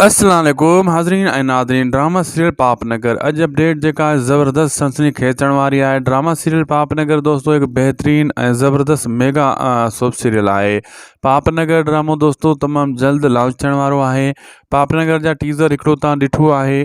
السلام عليڪم حاضرين ۽ ناظرين ڊراما سيريل پاپ نگر اڄ اپڊيٽ جيڪا آهي زبردست سنسني خيز ٿيڻ واري آهي ڊراما سيريل پاپ نگر دوستو هڪ بهترين ۽ زبردست ميگا سوپ سيريل آهي پاپ نگر ڊرامو دوستو تمام جلد لانچ ٿيڻ وارو آهي پاپ نگر جا ٽيزر هڪڙو تان ڏٺو آهي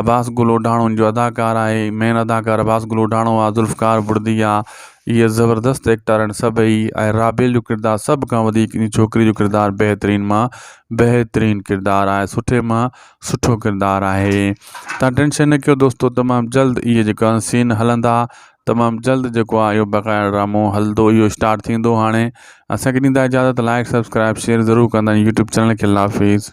عباس گل اوڍاڻو ان جو اداڪار آهي مين اداڪار عباس گل اوڍاڻو آ ذوالفقار بڙدي آ اهي زبردست ايڪٽر آهن سڀئي ۽ رابيل جو ڪردار سڀ کان وڌيڪ ان ڇوڪري جو ڪردار بهترين مان بهترين ڪردار آهي سٺي مان سٺو ڪردار آهي تها ٽينشن نه ڪيو دوستو تمام جلد اهي جيڪا آهن سين هلندا تمام جلد جيڪو آهي اهو بقايا ڊرامو هلندو اهو اسٽارٽ ٿيندو هاڻي اسانکي ڏيندا اجازت لائڪ سبسڪرائب شيئر ضرور ڪندا يوٽيوب چينل کي الله حافظ